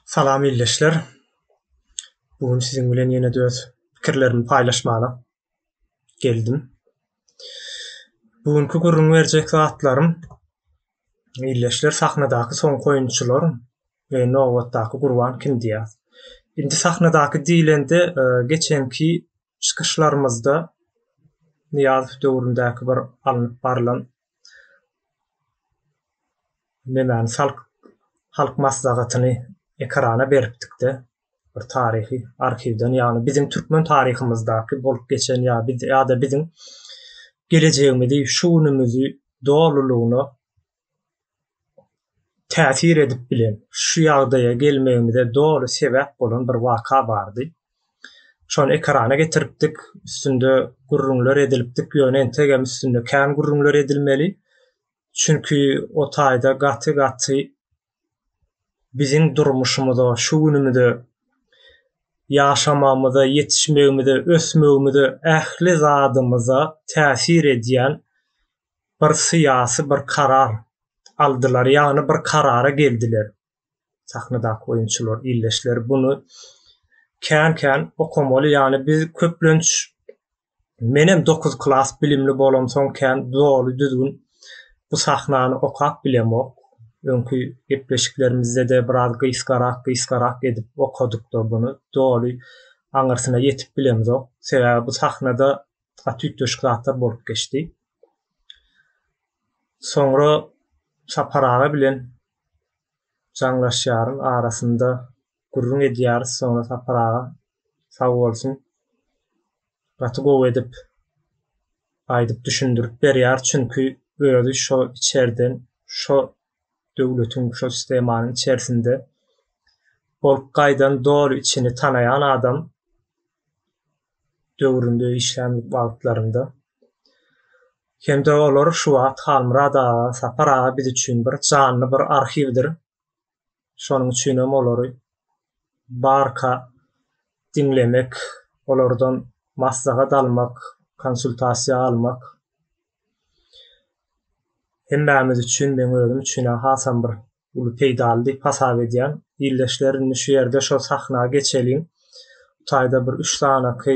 Salam ildeşler. Bu gün siziň bilen ýene-de öz pikirlerimi paýlaşmaga geldim. Bu günki gürrüň berjek zatlarym ildeşler sahnadaky soňky oýunçylar we nobatdaky gurban kim diýýär. Indi sahnadaky diýlende e, geçenki çykyşlarymyzda Nyýazow döwründäki bir alnyp barlan nemäni salk halk maslahatyny ekrana beripdikde bir taryhy arhiwden ýagny biziň türkmen taryhymyzdaky bolup geçen ýa biz ýa-da biziň gelejegimizi şu günümizi dolulygyna täsir edip bilen, şu ýagdaýa gelmegimize doly sebäp bolan bir waka bardy. Şony ekrana getiripdik, üstünde gürrüňler edilipdik, ýöne entegem üstünde kän gürrüňler edilmeli. Çünki o taýda gaty-gaty biziň durmuşymyza, şu günümize, ýaşamagymyza, ýetişmegimize, ösmegimize, ähli zadymyza täsir edýän bir syýasy bir karar aldylar, ýagny bir karara geldiler. Sahnadaky oýunçylar, ildeşler buny kän-kän okamaly, ýagny biz köplenç Menem dokuz klas bilimli bolamsoň kän doly düzgün bu sahnany okap bilemok. Öňki gepleşiklerimizde-de biraz gysgarak, gysgarak edip okadykda buny doly aňyrsyna ýetip bilemzok. Sebäbi bu sahnada gaty üýtgeşik zatlar bolup geçdi. Soňra Sapar aga bilen jaňlaşýaryn arasynda gürrüň edýäris soňra Sapar aga sag bolsun gaty gowy edip aýdyp düşündirip berýär çünki özi şo içerden şo döwletiň şo sistemanyň içerisinde bolup gaýdan doly içini tanaýan adam döwründe işlän wagtlarynda hem-de olar şu wagt Halmyrat aga Sapar aga biz üçin bir janly bir arhiwdir Şonuň üçin hem olary barka diňlemek, olardan maslahat almak, konsultasiýa almak hemmämiz üçin, meň özüm üçin hasam bir uly peýdaly diýip hasap edýän. Ildeşler, indi şu ýerde şo sahna geçeliň. Bu taýda bir üç sanaky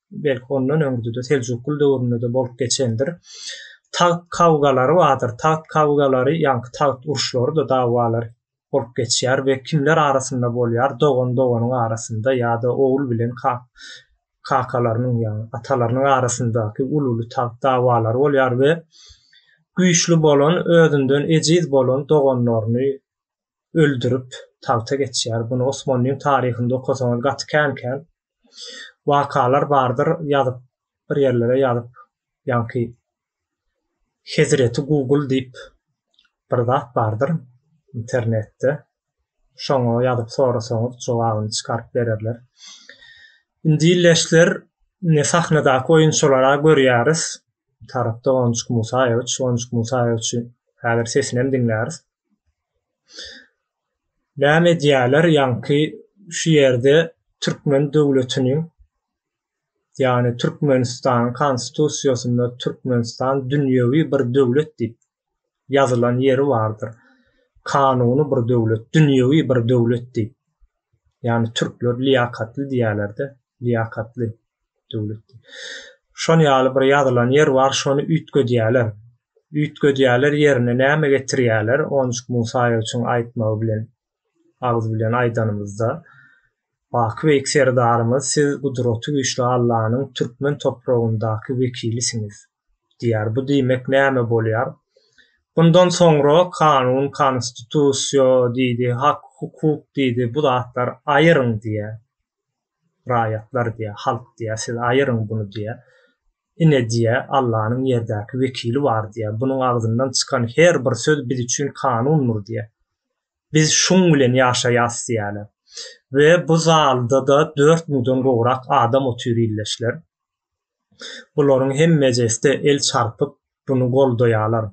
belki ondan öňde-de Seljukly döwründe-de bolup geçendir. Tagt kawgalary bardyr. Tagt kawgalary, ýaňky tagt uruşlary-da dawalary bolup geçýär we kimler arasynda bolýar? Dogan doganyň arasynda ýa-da ogul bilen kakalarynyň, ýagny atalarynyň arasyndaky uly-uly tagt dawalary bolýar we güýçli bolan, özünden ejiz bolan doganlaryny öldürip tagta geçýär. Bunu Osmanlyň taryhynda okasaňyz gaty kän-kän wakalar bardyr ýazyp bir ýerlere ýazyp ýaňky Hezreti Google diýip bir zat bardyr internetde şoňa ýazyp sorasaňyz jogabyny çykaryp bererler. Indi illeşler ine sahnadaky oýunçylara görýäris. Tarapda Onjuk Musaýewiç, Onjuk Musaýewiçi häzir sesinem diňläris. Näme edýärler ýaňky şu ýerde türkmen döwletiniň ýagny Türkmenistanyň konstitusiýasynda Türkmenistan dünýewi bir döwlet diýip ýazylan ýeri bardyr. Kanuny bir döwlet, dünýewi bir döwlet diýip. Ýagny türkler liýakatly diýýärler-de, liýakatly. döwletde. Şon ýaly bir ýazylan ýer bar, şony üýtgedýäler. Üýtgedýäler ýerine näme getirýäler, Onjuk Musaýewiçiň aýtmagy bilen agyz bilen aýdanymyzda, Baky beýik serdarymyz siz gudraty güýçli Allanyň türkmen topragyndaky wekilisiňiz diýýär. Bu diýmek näme bolýar? Bundan soňra kanun, konstitusiýa diýdi, hak, hukuk diýdi, bu zatlar aýyryň diýýär. raýatlar diýýär, halk diýýär, siz aýyryň buny diýýär. Ine diýýär, Allanyň ýerdäki wekili bar diýýär. Bunuň agzyndan çykan her bir söz biz üçin kanundyr diýýär. Biz şuň bilen ýaşaýas diýýärler. We bu zalda-da dört müňden gowrak adam otyr ildeşler. Bularyň hemmejesi-de el çarpyp, buny goldaýalar.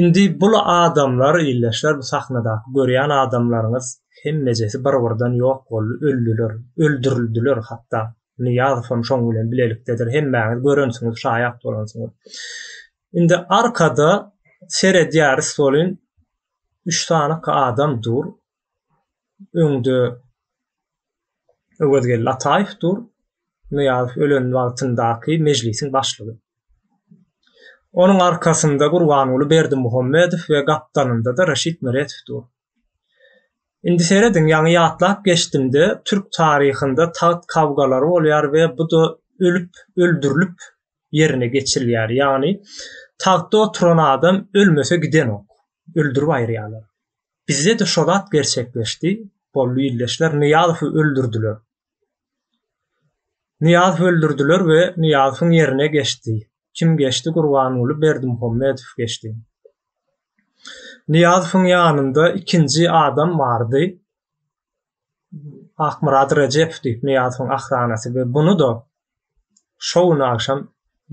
Indi bul adamlar, ildeşler, bu sahnadaky görýän adamlaryňyz hemmejesi bir-birden ýok boldy, öldiler, öldürildiler hatda. Nyýazowam şoň bilen bilelikdedir, hemmäňiz görensiňiz, şaýat bolansyňyz. Indi arkada seredýäris welin, üç sanyka adam dur, öňde Öwezgeldi Ataýew dur. Nyýazow ölen wagtyndaky mejlisiň başlygy. Onuň arkasynda Gurbanguly Berdimuhamedow we gapdalynda-da Reşit Meredow dur. Indi serediň, ýaňy ýatlap geçdim-de, türk taryhynda tagt kawgalary bolýar we bu-da ölüp, öldürilip ýerine geçirilýär. Ýagny tagtda oturan adam ölmese gidenok, öldürip aýyrýarlar. Bizde-de şo zat gerçekleşdi, boldy ildeşler, Nyýazowy öldürdiler. Nyýazowy öldürdiler we Nyýazowyň ýerine geçdi. Kim geçdi? Gurbanguly Berdimuhamedow geçdi. Nyýazowyň ýanynda ikinji adam bardy. Akmyrat Rejep diýip Nyýazowyň ahranasy we buny-da şo gün agşam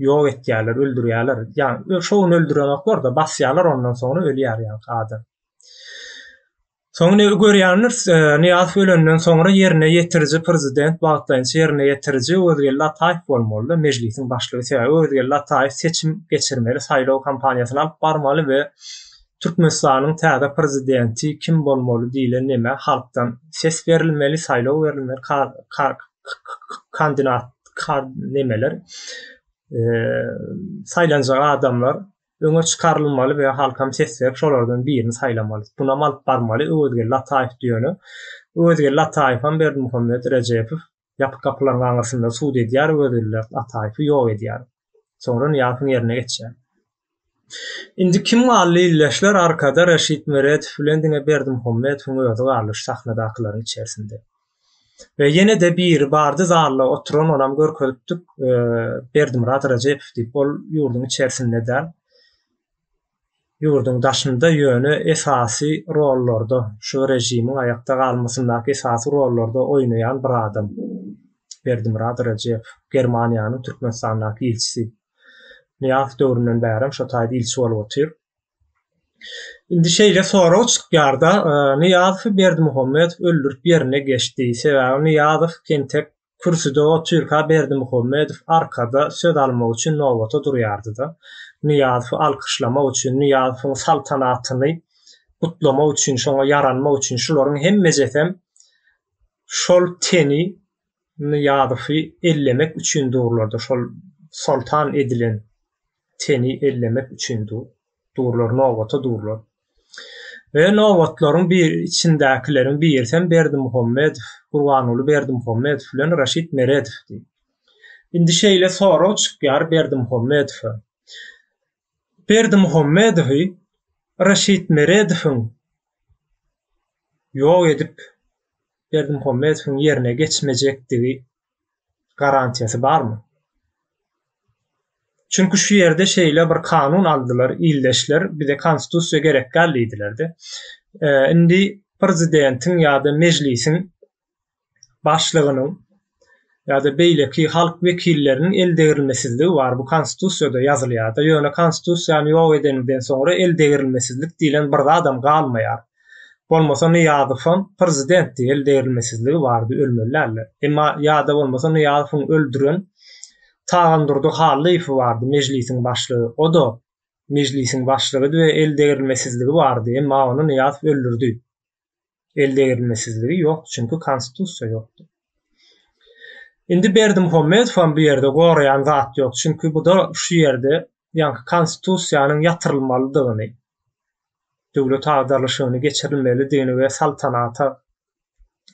ýok etýärler, öldürýärler. Ýagny şo gün öldürenoklar-da, basýarlar ondan soňra ölýär ýaňky adam. Soň indi görýändiris, Nyýazow ölenden soňra ýerine ýetiriji prezident, wagtlaýynça ýerine ýetiriji Özgeldi Ataýew bolmaly-da, Mejlisiň başlygy. Sebäbi Özgeldi Ataýew seçim geçirmeli, saýlaw kampaniýasyny alyp barmaly we Türkmenistanyň täze prezidenti kim bolmaly diýle neme halkdan ses berilmeli saýlaw berilmeli kar kar kandinat kar nemeler saýlanjak adamlar öňe çykarylmaly we halkam ses berip şolardan birini saýlamaly bunam alyp barmaly öwezgeldi ataýew diýeni öwezgeldi ataýewem berdimuhammet rejepow Ýapyk gapylaryň aňyrsynda sud edýär, özgüllek Ataýewi ýok edýär. Soňra Nyýazowyň ýerine geçýär. Indi kim galdy illeşler arkada Reşit Meredow bilen diňe Berdimuhammedowyň özi galdy şu sahnadakylaryň içersinde. We ýene-de biri bardy zalda oturan onam görkezipdik Berdimyrat Rejepow diýip ol ýurduň içersinde däl. ýurduň daşynda ýöne esasy rollarda şu režimiň aýakda galmasyndaky esasy rollarda oýnaýan bir adam Berdimyrat Rejew Germaniýanyň Türkmenistandaky ilçisi Nyýazow döwründen bärem şo taýda ilçi bolup otyr. Indi şeýle sorag çykýarda Nyýazowy Berdimuhamedow öldürip ýerine geçdi sebäbi Nyýazow entek kürsüde otyrka Berdimuhamedow arkada söz almak üçin nobata durýardy-da, Nyýazowy alkyşlamak üçin, Nyýazowyň saltanatyny gutlamak üçin, şoňa ýaranmak üçin, şularyň hemmejesem şol teni Nyýazowy ellemek üçin durlardy, şol soltan edilen. teni ellemek üçin durlar, nobata durlar. We nobatlaryň bir içindäkileriň birisi hem Berdimuhammedow, Gurbanguly Berdimuhammedow bilen Raşid Meredowdy. Indi şeýle sorag çykýar Berdimuhammedowa. Berdimuhammedowy Raşid Meredowyň ýok edip, Berdimuhammedowyň ýerine geçmejekdigi garantiýasy barmy? Çünki şu ýerde şeýle bir kanun aldylar ildeşler, bize konstitusiýa gerek däl diýdiler-de. Indi prezidentiň ýa-da mejlisiň başlygynyň ýa-da beýleki halk wekilleriniň el degrilmesizligi bar. Bu konstitusiýada ýazylýar-da. Ýöne konstitusiýany ýok edeniňden soňra el degrilmesizlik diýlen bir zadam galmaýar. Bolmasa Nyýazowam prezidentdi el degrilmesizligi bardy ölmeli däldi. Emma ýada bolmasa Nyýazowyň öldüren Tagandurdy Hallyýewi bardy mejlisiň başlygy oda mejlisiň başlygydy we el degrilmesizligi bardy emma ony Nyýazow öldürdi. El degrilmesizligi ýokdy çünki konstitusiýa ýokdy. Indi Berdimuhamedowam bu ýerde goraýan zat ýok çünki buda şu ýerde ýaňky konstitusiýanyň ýatyrylmalydygyny döwlet agdarlyşygyny geçirilmelidigini we saltanata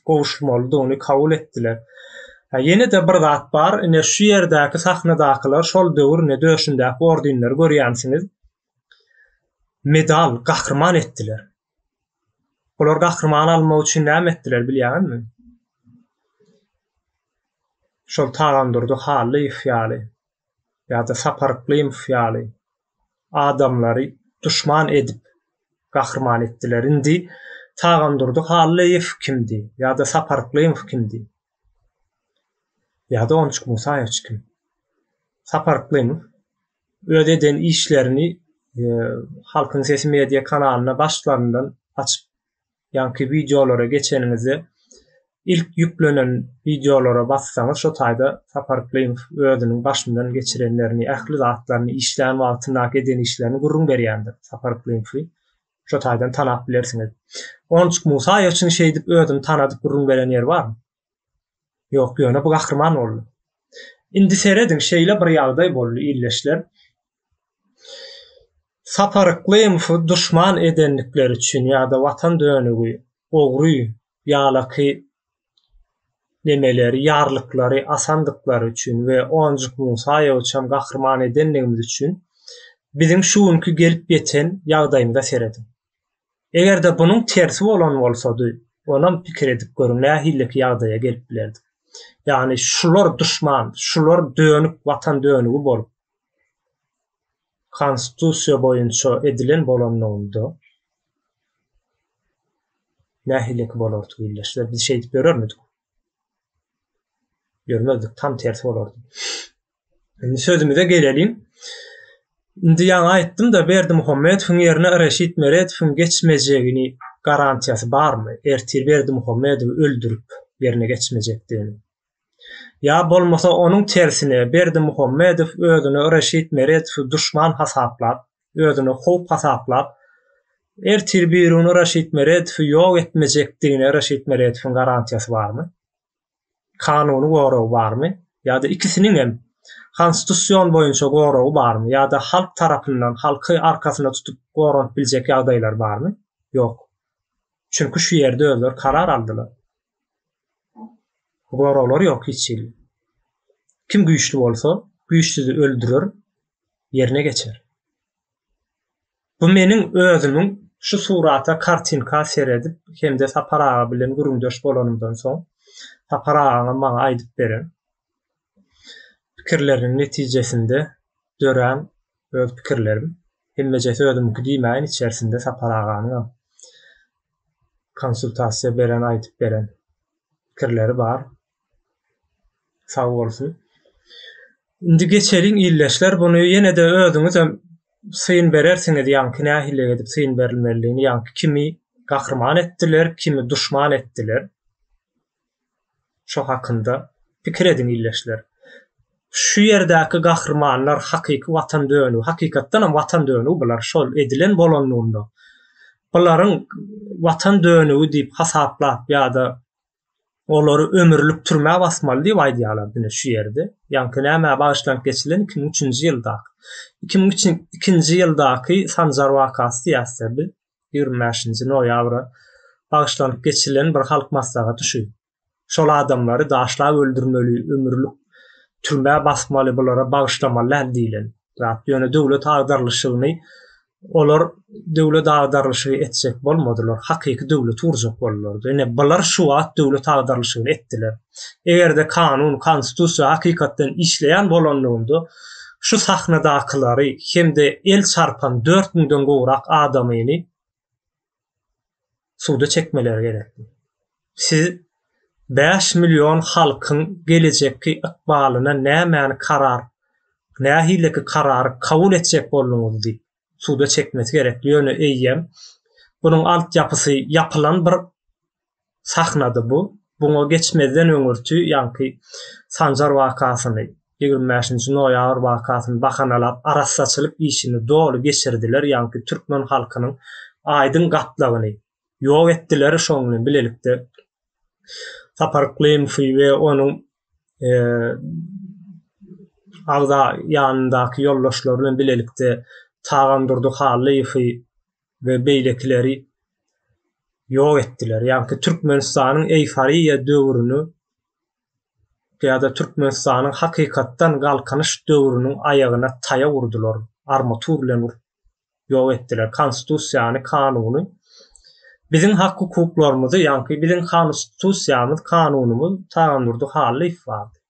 gowuşylmalydygyny kabul etdiler. Ýene-de bir zat bar, ine, şu ýerdäki sahnadakylar şol döwür, ine, döşündäki ordenleri görýänsiňiz, medal, gahryman etdiler. Olar gahryman almak üçin näme etdiler, bilýäňizmi? Şol Tagandurdy Hallyýew ýaly ýa-da Sapar Yklymow ýaly adamlary duşman edip gahryman etdiler. Indi Tagandurdy Hallyýew kimdi ýa-da Sapar Yklymow kimdi? Ýa-da Onçuk Musaýewiç kim? Sapar Yklymow öz eden işlerini Halkyň sesi media kanalyna başlaryndan açyp ýaňky wideolara geçeniňizde ilk ýüklenen wideolara bassaňyz şo taýda Sapar Klymow özüniň başyndan geçirenlerini ähli zatlaryny işlän wagtyndaky eden işlerini gürrüň berýändir Sapar Klymowy şo taýdan tanap bilersiňiz Onçuk Musaýewiçiň şeýdip özüni tanadyp gürrüň beren ýeri barmy? Ýok, ýöne bu gahryman boldy. Indi serediň, şeýle bir ýagdaý boldy, ildeşler. Sapar Yklymowy duşman edendikleri üçin ýa-da Watan dönügi, ogry, ýalaky nemeleri, ýarlyklary asandyklary üçin we Onjuk Musaýewiçem gahryman edendigimiz üçin biziň şu günki gelip ýeten ýagdaýymyza serediň. Eger-de bunuň tersi bolan bolsady, onam pikir edip görüň, nähileki ýagdaýa gelip bilerdik. Ýagny şular duşman, şular dönük watan dönügi bolup Konstitusiýa boýunça edilen bolanlygynda nähileki bolardy ildeşler? Biz şeýdip ýörermidik? Ýörmezdik, tam tersi bolardy. Indi sözümize geleliň. Indi ýaňy aýtdym-da, Berdi Muhammedowyň ýerine Reşit Meredowyň geçmejegini garantiýasy barmy? Ertir Berdi Muhammedowy öldürip, ýerine geçmejekdigini. Ýa bolmasa onuň tersine, Berdi Muhammedow özüne Reşit Meredowy duşman hasaplap, özüne howp hasaplap, ertir birigün Reşit Meredowy ýok etmejekdigine Reşit Meredowyň garantiýasy barmy? kanuny goragy barmy ýa-da ikisiniňem Konstitusion boýunça goragy barmy ýa-da halk tarapyndan halky arkasyna tutup goranyp biljek ýagdaýlary barmy? Ýok. Çünki şu ýerde özleri karar aldylar. Goraglary ýok hiç hili. Kim güýçli bolsa, güýçsüzi öldürer, ýerine geçer. Bu meniň özümiň şu surata, kartinka seredip hem-de Sapar aga bilen gürrüňdeş bolanymdan soň, Sapar agaň maňa aýdyp beren pikirleriniň netijesinde dörän öz pikirlerim. Hemmejesi özümiňki diýmäýin, içerisinde Sapar aganyňam konsultasiýa beren, aýdyp beren pikirleri bar. Sag bolsun. Indi geçeliň ildeşler, buny ýene-de özüňizem syn berersiňiz, ýaňky nähili edip syn berilmelidigini, ýaňky kimi gahryman etdiler, kimi duşman etdiler. Şo hakynda pikir ediň ildeşler. Şu ýerdäki gahrymanlar hakyky watan dönügi, hakykatdanam watan dönügi bular, şol edilen bolanlygynda. Bularyň watan dönügi diýip hasaplap ýa-da olary ömürlik türmä basmaly diýip aýdýarlar diňe şu ýerde. Ýaňky nämä bagyşlanyp geçirilen iki müň üçünji ýyldaky. Iki müň üçin- ikinji ýyldaky Sanjar wakasy diýäs-dä biz. Ýigrimi bäşinji noýabra bagyşlanyp geçirilen bir halk maslahaty şu. Şol adamlary daşlap öldürmeli, ömürlik türmä basmaly, bulara bagyşlamaly däl diýlen. Zat ýöne döwlet agdarylyşygyny olar döwlet agdarylyşygy etjek bolmadylar, hakyky döwleti gurjak boldular. Ine bular şu wagt döwlet agdarylyşygyny etdiler. Eger-de kanun, konstitusiýa hakykatdan işleýän bolanlygynda şu sahnadakylary hem-de el çarpan dört müňden gowrak adamyny, suda çekmeleri gerekdi. Siz 5 million halkyň gelejekki ykbalyna nämäni karar, nähileki karary kabul etjek bolduňyz diýip, suda çekmesi gerekdi. Ýöne eýýäm bunuň altyapysy ýapylan bir sahnady bu. Buňa geçmezden öňürti ýaňky Sanjar wakasyny, ýigrimi bäşinji noýabr wakasyny bahanalap, arassaçylyk işini doly geçirdiler, ýaňky türkmen halkynyň aýdyň gatlagyny ýok etdiler, şonuň bilen bilelikde Sapar Yklymowy we onuň agza ýanyndaky ýoldaşlary bilen bilelikde Tagam Durdy Hallyýewi we beýlekileri ýok etdiler. Ýagny Türkmenistanyň eýforiýa döwrüni ýa-da Türkmenistanyň hakykatdan galkynyş döwrüniň aýagyna taýa urdular, armatur bilen urup ýok etdiler. Konstitusiýany, kanuny, biziň hak-hukuklarymyzy, ýagny biziň Konstitusiýamyz, kanunymyz Tagandurdy Hallyýew bardy.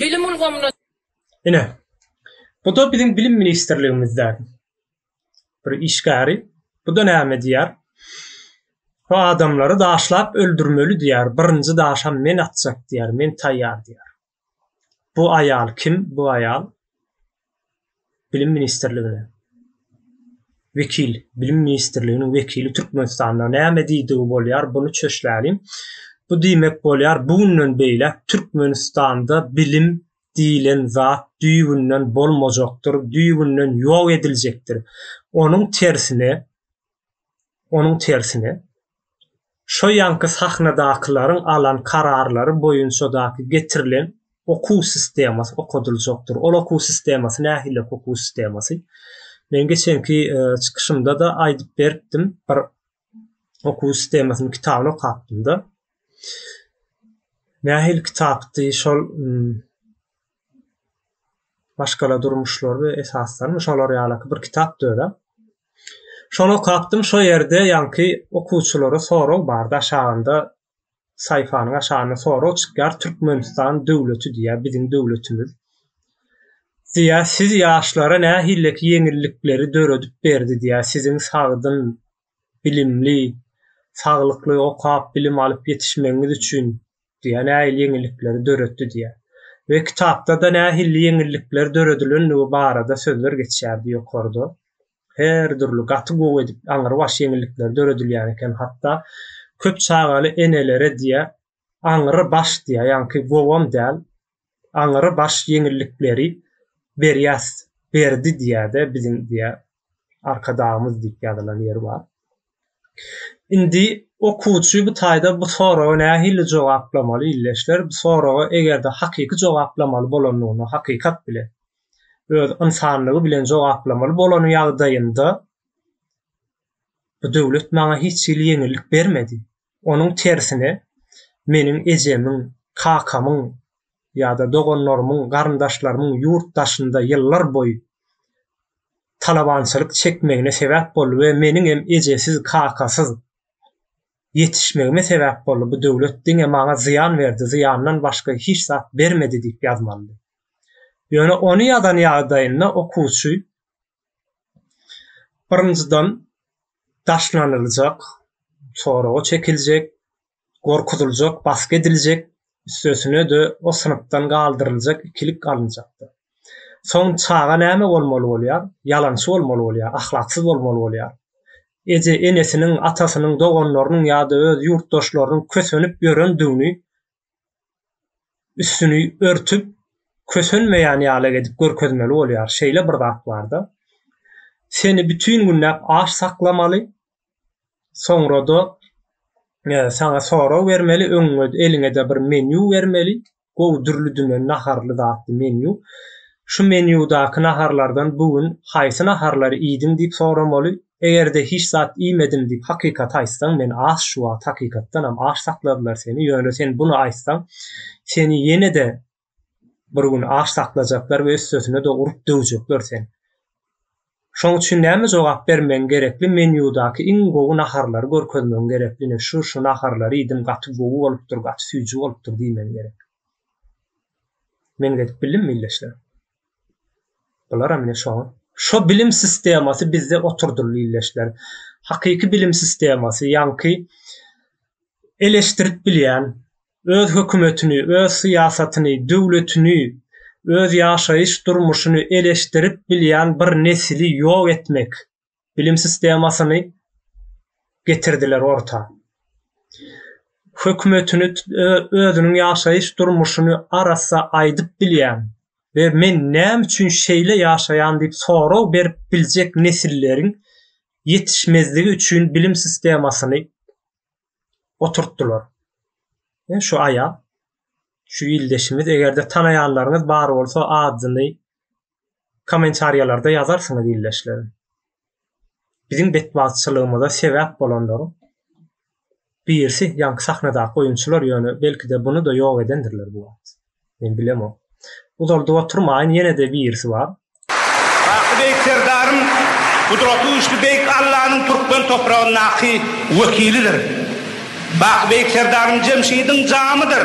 Bilim ulgamyna. Ine, bu-da biziň Bilim ministrligimizdäki bir işgäri. Bu-da näme diýýär? Bu adamlary daşlap öldürmeli diýýär. Birinji daşam men atjak diýýär. Men taýýar diýýär. Bu aýal kim? Bu aýal Bilim ministrligine wekil, bilim ministrliginiň wekili Türkmenistanda näme diýdigi bolýar, buny çöşläliň. Bu diýmek bolýar, bu günden beýläk Türkmenistanda bilim diýilen zat düýbünden bolmajakdyr, düýbünden ýok ediljekdir. Onuň tersine, Onuň tersine, şo ýanky sahnadakylaryň alan kararlary boýunçadaky getirilen okuw sistemasy okadyljakdyr. Ol okuw sistemasy nähili okuw sistemasy? Men geçenki çykyşymda-da aýdyp beripdim. Bir okuw sistemasynyň kitabyny okapdym-da. Nähili kitapdy? Şol maşgala durmuşlary we esaslarmy şolar ýalaky bir kitap dörä. Şony okapdym, şo ýerde ýaňky okuwçylara sorag bardy, aşagynda saýfanyň aşagynda sorag çykýar, Türkmenistan döwleti diýýär, biziň döwletimiz. Diýýär, siz ýaşlara nähilleki ýeňillikleri döredip berdi diýýär, siziň sagdyn bilimli, saglykly okap bilim alyp ýetişmegiňiz üçin diýýär, nähili ýeňillikleri döretdi diýýär. We kitapda-da nähilli ýeňillikler döredilendigi barada sözler geçýärdi ýokarda. Her dürli gaty gowy edip aňrybaş ýeňillikler döredilýän eken, hatda köp çagaly enelere diýýär, aňry baş diýýär, ýaňky gowam däl, aňry baş ýeňillikleri berýäs, berdi diýýär-de biziň diýýär Arkadagymyz diýip ýazylan ýeri bar. Indi okuwçy bu taýda bu soraga nähili jogaplamaly ildeşler? Bu soraga eger-de hakyky jogaplamaly bolandygyna hakykat bilen, öz ynsanlygy bilen jogaplamaly bolany ýagdaýynda bu döwlet maňa hiç hili ýeňillik bermedi, Onuň tersine, meniň ejemiň, kakamyň ýa-da doganlarymyň, garyndaşlarymyň ýurt daşynda ýyllarboýy talabançylyk çekmegine sebäp boldy we meniňem ejesiz, kakasyz ýetişmegime sebäp boldy, bu döwlet diňe maňa zyýan berdi, zyýandan başga hiç zat bermedi diýip ýazmalydy. Ýöne ony ýazan ýagdaýynda okuwçy Birinjiden, daşlanyljak, soraga çekiljek, gorkuzyljak, basgy ediljek, üstesine-de o synpdan galdyryljak ikilik alynjakdyr. Soň çaga näme bolmaly bolýar? Ýalançy bolmaly bolýar, ahlaksyz bolmaly bolýar. Eje-enesiniň, atasynyň, doganlarynyň ýa-da öz ýurtdaşlarynyň kösenip ýörendigini üstüni örtüp kösenmeýän ýaly edip görkezmeli bolýar. Şeýle bir zat barda. Seni bütin günläp aç saklamaly. Soňra-da e, saňa sorag bermeli, öňüňe eliňe-de bir menýu bermeli. Gowy dürli dümen naharly zatly menýu. Şu menýudaky naharlardan bu gün haýsy naharlary iýdiň diýip soramaly. Eger-de hiç zat iýmedim diýip hakykaty aýtsaň, men aç şu wagt hakykatdanam aç saklardylar seni, ýöne sen buny aýtsaň, seni ýene-de bir gün aç saklajaklar we üstesine-de urup döwjekler sen. Şoň üçin näme jogap bermegiň gerekli, menýudaky iň gowy naharlary görkezmegiň gerekli, ine şu, şu naharlary iýdim, gaty gowy bolupdyr, gaty süýji bolupdyr diýmegiň gerek. Men edip bildimmi, ildeşler? Bularam ine şoň. Şo bilim sistemasy bizde oturdyldy illeşler. Hakyky bilim sistemasy, ýaňky eleşdirip bilýän, öz hökümetini, öz syýasatyny, döwletini, öz ýaşaýyş durmuşyny eleşdirip bilýän bir nesili ýok etmek. bilim sistemasyny getirdiler orta. Hökümetini özüniň ýaşaýyş durmuşyny arassa aýdyp bilýän we men näme üçin şeýle ýaşaýan diýip sorag berip biljek nesilleriň ýetişmezligi üçin bilim sistemasyny oturtdylar. E, şu aýa şu ildeşimiz eger-de tanaýanlaryňyz bar bolsa adyny kommentariýalarda ýazarsyňyz ildeşlerim. Biziň betbagtçylygymyza sebäp bolanlaryň birisi ýaňky sahnadaky oýunçylar ýöne belki-de buny-da ýok edendirler bu wagt. Men bilemok. Uzaldyp oturmaýyn ýene-de birisi bar. Baky Beýik Serdaryň, Gudraty Güýçli Beýik Allanyň türkmen topragyndaky wekilidir. Baky Beýik Serdaryň Jemşidiň jamydyr.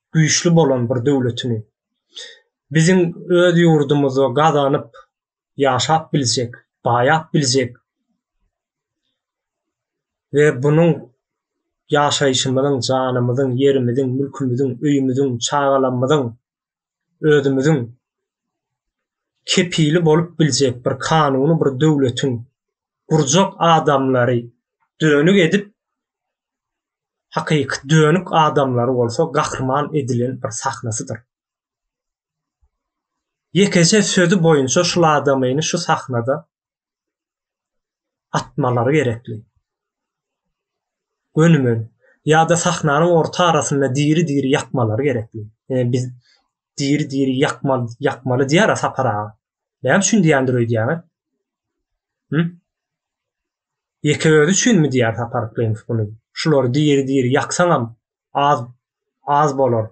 güýçli bolan bir döwletini biziň öz ýurdumyzda gazanyp ýaşap biljek, baýap biljek we bunuň ýaşaýşymyzyň, janymyzyň, ýerimiziň, mülkümiziň, öýümiziň, çagalamyzyň, özümiziň kepili bolup biljek bir kanuny bir döwletiň gurjak adamlary dönük edip hakyky dönük adamlary bolsa gahryman edilen bir sahnasydyr. Ýekeje sözi boýunça şul adamyny şu sahnada atmalary gerekli. Gönümen ýa-da sahnanyň orta arasynda diri-diri ýakmalary gerekli. Ýa biz diri-diri ýakmal ýakmaly diýýär-ä Sapar aga. Näme üçin diýýändir öýdýäňiz? Hü? Ýeke özi üçinmi diýýär Sapar Yklymov muny. Şulary diri-diri ýaksaňam az az bolar.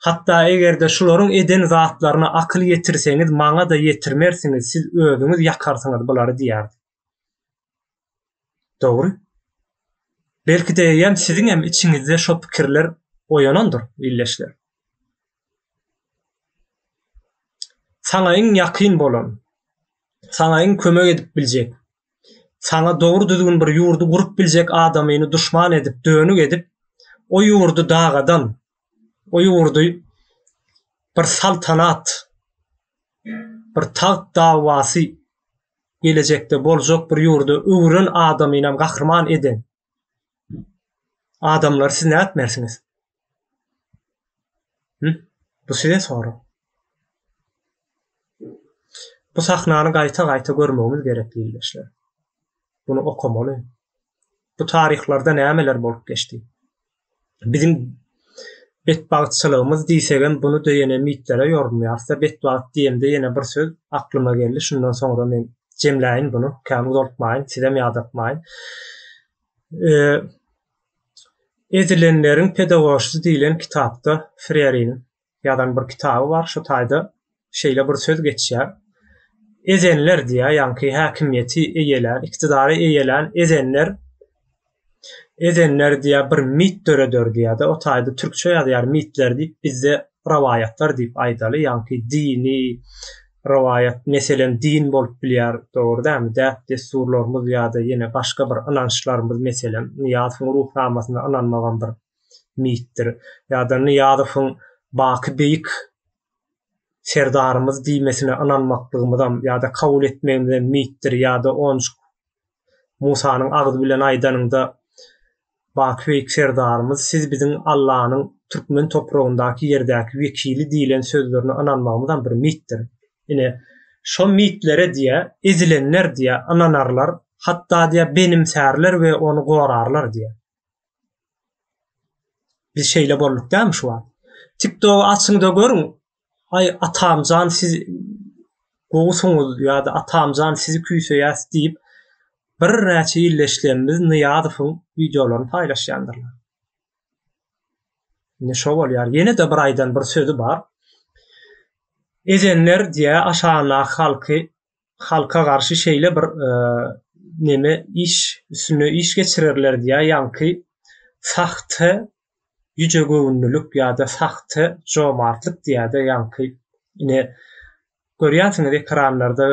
Hatda eger-de şularyň eden zatlaryna akyl ýetirseňiz maňa-da ýetirmersiňiz siz özüňiz ýakarsyňyz bulary diýýärdi. Dogry. Belki-de eýýäm siziňem içiňizde şo pikirler oýanandyr ildeşler. Saňa iň ýakyn bolan, saňa iň kömek edip biljek Saňa dogry düzgün bir ýurdy gurup biljek adamyny duşman edip, dönük edip, o ýurdy dagadan, o ýurdy bir saltanat, bir tagt dawasy gelejekde boljak bir ýurda öwüren adamynam gahryman eden. Adamlary siz nätmersiňiz? Hü? Bu size sorag. Bu sahnany gaýta-gaýta görmegimiz gerek ildeşler. Bunu okamaly. Bu taryhlarda nämeler bolup geçdi? biziň betbagtçylygymyz diýsegem bunu döýene mitlere ýorulýarsa betbagt diýemde ýene bir söz aklyma geldi şundan soňra men jemläýin bunu kän uzaltmaýyn sizem ýadatmaýyn ezilenleriň pedagoşysy diýlen kitapda freýariniň ýazan bir kitaby bar. Şu taýda şeýle bir söz geçýär. Ezenler diýýär, ýaňky häkimiýeti eýelän, iktidary eýelän ezenler ezenler diýýär, bir mit döreder diýýär-de, o taýda türkçe ýazýar, mitler diýip, bizde rowaýatlar diýip aýdaly, ýaňky dini rowaýat, meselem, din bolup bilýär, dogry dälmi, däp-dessurlarymyz ýa-da ýene başga bir ynançlarymyz, meselem, Nyýazowyň Ruhnamasynda ynanmagam bir mitdir. Ýa-da Nyýazowyň Baky beýik Serdarymyz diýmesine ynanmaklygymyzam ýa-da kabul etmegimizem mitdir ýa-da onjuk Musanyň agzy bilen aýdanyňda Baky beýik Serdarymyz siz biziň Allanyň türkmen topragyndaky ýerdäki wekili diýlen sözlerine ynanmagymyzam bir mitdir. Ine, şo mitlere diýe, ezilenler diýe, ynanarlar, hatda diýe, benimsärler we ony gorarlar diýe. Biz şeýle bolduk dämi şu wagt? TikTok açyňda görüň. Ay atamjan siz gowusuňyz ýa-da atamjan sizi küýseýäs diýip bir näçe illeşlerimiz Nyýazowyň wideolaryny paýlaşýandyrlar. Ne şo bolýar. Ýene de bir aýdan bir sözi bar. Edenler diýä aşagyndaky halky halka garşy şeýle bir e, neme iş üstünde iş geçirerler diýä ýaňky sahte ýüce göwünlilik ýa-da sahte jomartlyk diýýär-de ýaňky ine görýänsiňiz ekranlarda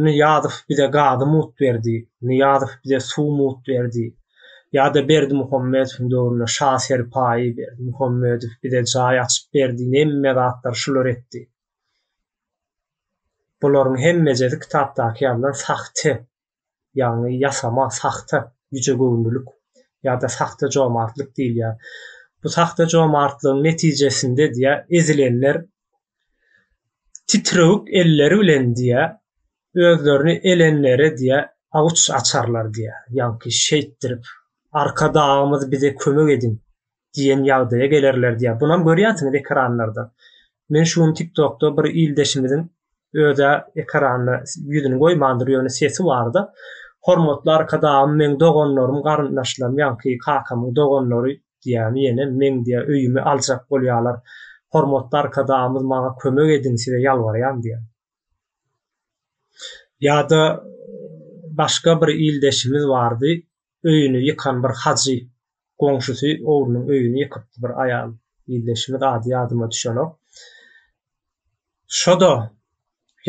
Niýazow bize gazy mut berdi, Niýazow bize suw mut berdi. Ýa-da Berdi Muhammedowyň döwründe Şa Serpaýy, Berdi Muhammedow bize jaý açyp berdi, nemme zatlar şular etdi. Bularyň hemmejesi kitapdaky ýazylan sahte, ýagny ýasama, sahta ýüjegöwünlilik ýa-da sahta jomartlyk diýilýär. Bu sahta jomartlygyň netijesinde diýýär, ezilenler titrewük elleri bilen diýýär, özlerini elenlere diýýär, awuç açarlar diýýär. Ýaňky şeýtdirip, Arkadagymyz bize kömek ediň! diýen ýagdaýa gelerler diýýär. Bunam görýänsiňiz ekranlarda. Men şu gün TikTokda bir ildeşimiziň özä ekranda ýüzüni goýmandyr, ýöne sesi barda. Hormatly Arkadagym, meň doganlarym, garyndaşlarym, ýaňky kakamyň doganlary diýýämi ýene meň diýýär öýümi aljak bolýarlar. Hormatly Arkadagymyz maňa kömek ediň size ýalbarýan diýýär. Ýa-da başga bir ildeşimiz bardy. öýüni ýykan bir hajy goňşusy ogrynyň öýüni ýykypdy bir aýal ildeşimiz ady ýadyma düşenok şoda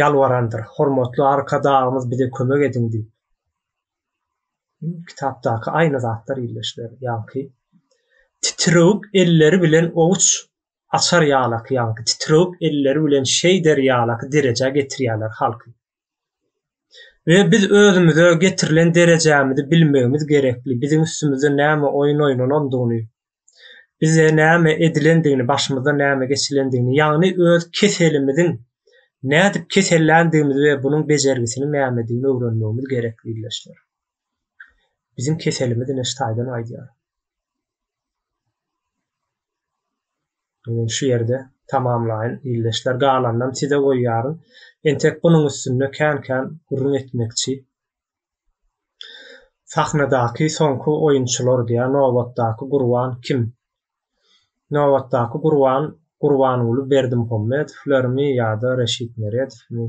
ýalwarandyr hormatly arkadagymyz bize kömek ediň diýip kitapdaky aýna zatlar ildeşler ýaňky titrewük elleri bilen owuç açar ýalaky ýaňky titrewük elleri bilen şeý der ýalaky derejä getirýäler halky We biz özümize getirilen derejämizi bilmegimiz gerekli, biziň üstümizde näme oýun oýnanandygyny, bize näme edilendigini, başymyzdan näme geçilendigini, ýagny öz keselimiziň nädip keselländigimizi we bunuň bejergisiniň nämedigini öwrenmegimiz gerekli ildeşler. Biziň keselimiz neştaýdan aýdýar. şu ýerde tamamlaýyn ildeşler galanynam size goýýaryn entek bunuň üstünde kän kän gürrüň etmekçi sahnadaky soňky oýunçylar diýä nobatdaky gurban kim nobatdaky gurban gurbanguly berdimuhammedow lermi ýada reşit meredowmy.